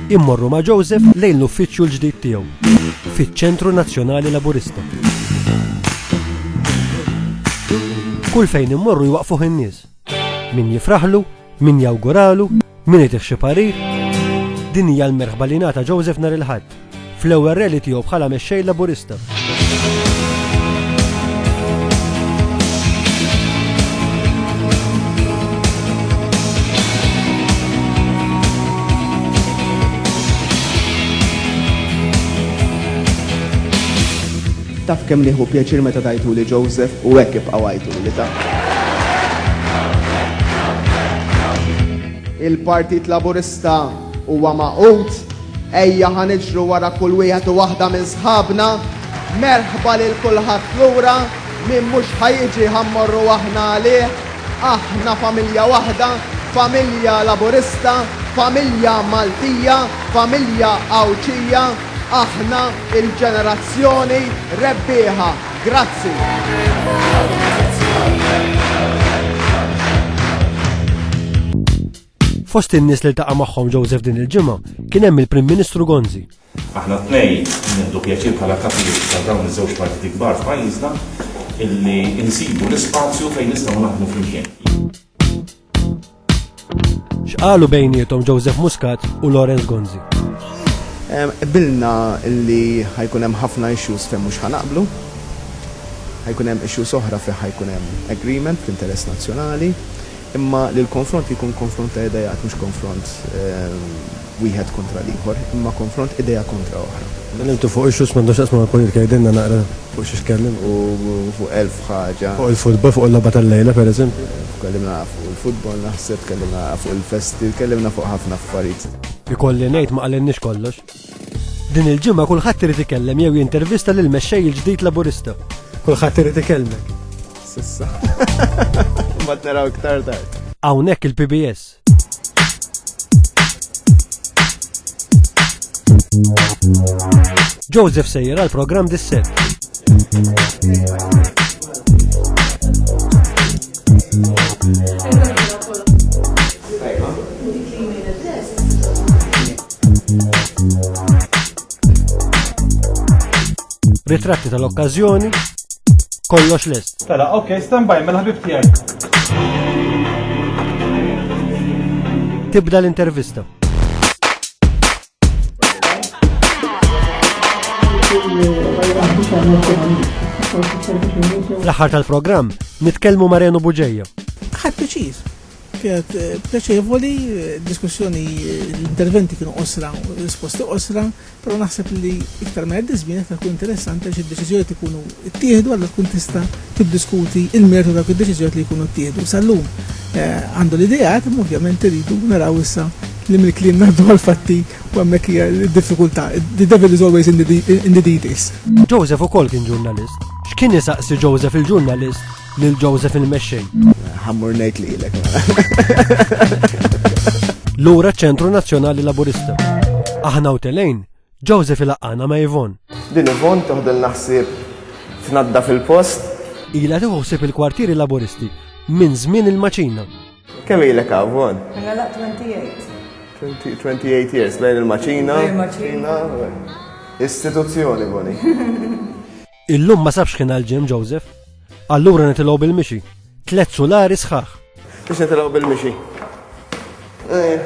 Immorru ma' Joseph lejn l-uffiċċju l-ġdid tiegħu fiċ-Ċentru Nazzjonali Laburista. Kull fejn immorru jwaqfuh in-nies. Min jifraħlu, min jawguralu, min itih xi parir. Din hija l-merħba li ngħata Joseph nhar il-Ħadd. fl-ewwel rally tiegħu bħala mexxej Laburista. Taf kemm nieħu pjaċir meta tajtu li Joseph u hekk ibqa' għajtu li ta. Il-Partit Laburista Huwa magħqud? Ejja ħa niġru wara kull wieħed u waħda minn sħabna. Merħba lil kulħadd lura, min mhux ħa jiġi ħa mmorru aħna għalih. Aħna familja waħda, familja Laburista, familja Maltija, familja Għawdxija. Aħna il-ġenerazzjoni rebbieħa. Grazzi. Fost in-nies li ltaqa' magħhom Joseph din il-ġimgħa kien hemm il-Prim Ministru Gonzi. Aħna tnej nieħdu pjaċir bħala kapijiet ta' dawn iż-żewġ partiti kbar f'pajjiżna illi insibu l-ispazju fejn nistgħu naħdmu flimkien. X'qalu bejniethom Joseph Muscat u Lawrence Gonzi? Bilna illi ħajkun hemm ħafna issues fejn mhux ħanaqblu, ħajkun hemm issues oħra fejn ħajkun hemm agreement fl-interess nazzjonali, Imma li l-konfront jkun konfront ta' ideat mhux konfront wieħed kontra l-ieħor, imma konfront idea kontra oħra. Tkellimtu fuq issues m'għandhom x'jaqsmu mal-politika, tgħidilna naqra fuq xi tkellimt? U fuq elf ħaġa. Fuq il-futbol, fuq il-logħba tal-lejla pereżempju? Tkellimna fuq il-futbol naħseb, tkellimna fuq il-festi, tkellimna fuq ħafna affarijiet. Ikolli ngħid ma qalilniex kollox. Din il-ġimgħa kulħadd irid ikellem jew jintervista lil mexxej il-ġdid Laburista. Kulħadd irid ikellmek. Sissa. Ma naraw iktar tard. Hawnhekk il-PBS. Joseph sejjer għal programm dis-set. Ritratti tal-okkażjoni, kollox lest. Tala, ok, stand by, mela ħabib tiegħi. Tibda l-intervista. L-aħħar tal-programm nitkellmu Marenu Buġeja. Ħadd Kienet pjaċevoli, diskussjoni, l-interventi kienu qosra, risposti qosra, però naħseb li iktar ma jgħaddi żmien iktar ikun interessanti għax id-deċiżjonijiet ikunu ttieħdu allura tkun tista' tiddiskuti l-mertu ta' dawk id-deċiżjonijiet li jkunu ttieħdu. Sal-lum għandu l-ideat imma ovvjament irridu naraw issa li mill-kliem ngħaddu għall-fatti u hemmhekk hija d-diffikultà. The devil is always in the details. Joseph ukoll kien ġurnalist. X'kien isaqsi Joseph il-ġurnalist? Lil Joseph il-mexxej. Ħammur ngħid lilek. Lura ċentru Nazzjonali Laburista. Aħna u telejn, Joseph il-aqqana ma' Ivon. Din Ivon toħdel naħsib tnadda fil-post. Ila tiħuħsib il-kwartieri laburisti minn żmien il-maċina. Kemm ilek għavon? Mela la 28. 28 years, bejn il-maċina. Bejn il-maċina. Istituzzjoni, boni. Illum ma sabx kien għal-ġim Joseph. Allura nitilgħu bil-mixi. Tlet sulari sħaħ. Biex nitilgħu bil-mixi. Eh.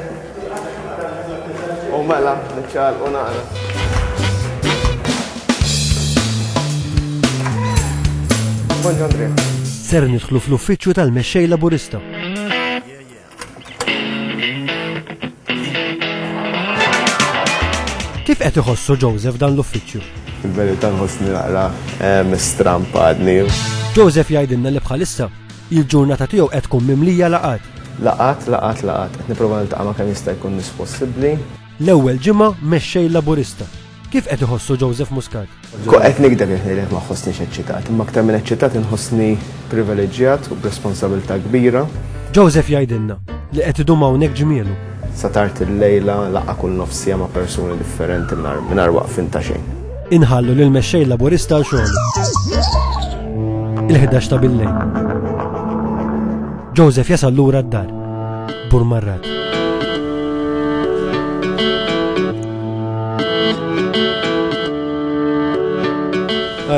U mela, nċal u naqra. Ser nidħlu fl-uffiċċju tal-mexxej laburista. Kif qed iħossu Joseph dan l-uffiċċju? Il-verità nħossni naqra eh, strampadni. Joseph jgħidilna li bħalissa il-ġurnata tiegħu qed tkun mimlija laqat. Laqat, laqat, laqat, qed nipprova niltaqa' ma' kemm jista' jkun nies possibbli. L-ewwel ġimgħa mexxej Laburista Kif qed iħossu Joseph Muscat? Qed nikdeb jekk ngħidlek ma ħossniex eċċitat, imma aktar minn eċċitat inħossni privileġġjat u b'responsabilità kbira. Joseph jgħidilna li qed idum hawnhekk ġmielu. Sa tard il-lejla laqgħa kull nofsija ma' persuni differenti mingħajr waqfin ta' xejn. Inħallu lil mexxej laburista għal xogħol. Il-11 ta' billejn. Joseph jasal lura d-dar. Burmarrat.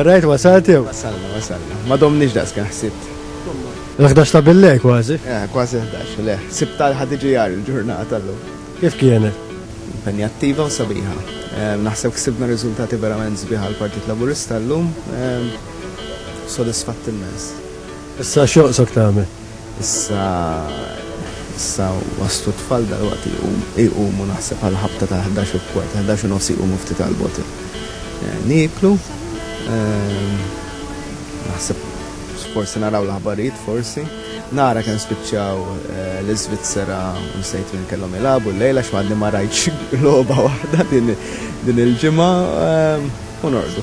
Rajt wasalt jew? Wasalna, wasalna. Ma domniex daqs kien ħsibt. L-11 ta' billej kważi. Eh, kważi 11, le. Sibt tal ħadiġi jar il-ġurnata l-lum. Kif kienet? Impenjattiva u sabiħa. Eh, naħseb ksibna riżultati verament sbiħa l-Partit Laburista l-lum. Eh, sodisfatt immens. Issa xoqsok tagħmel? Issa, issa waslu t-tfal dalwaqt iqumu naħseb għal ħabta ta' ħdax u kwart, ħdax u nofs iqumu ftit għal bottle. Nieklu, naħseb forsi naraw l-aħbarijiet forsi. Nara kemm spiċċaw l-Iżvizzera u nsejt min kellhom jilagħbu llejla għax għadni ma rajtx logħba waħda din il-ġimgħa u norqdu.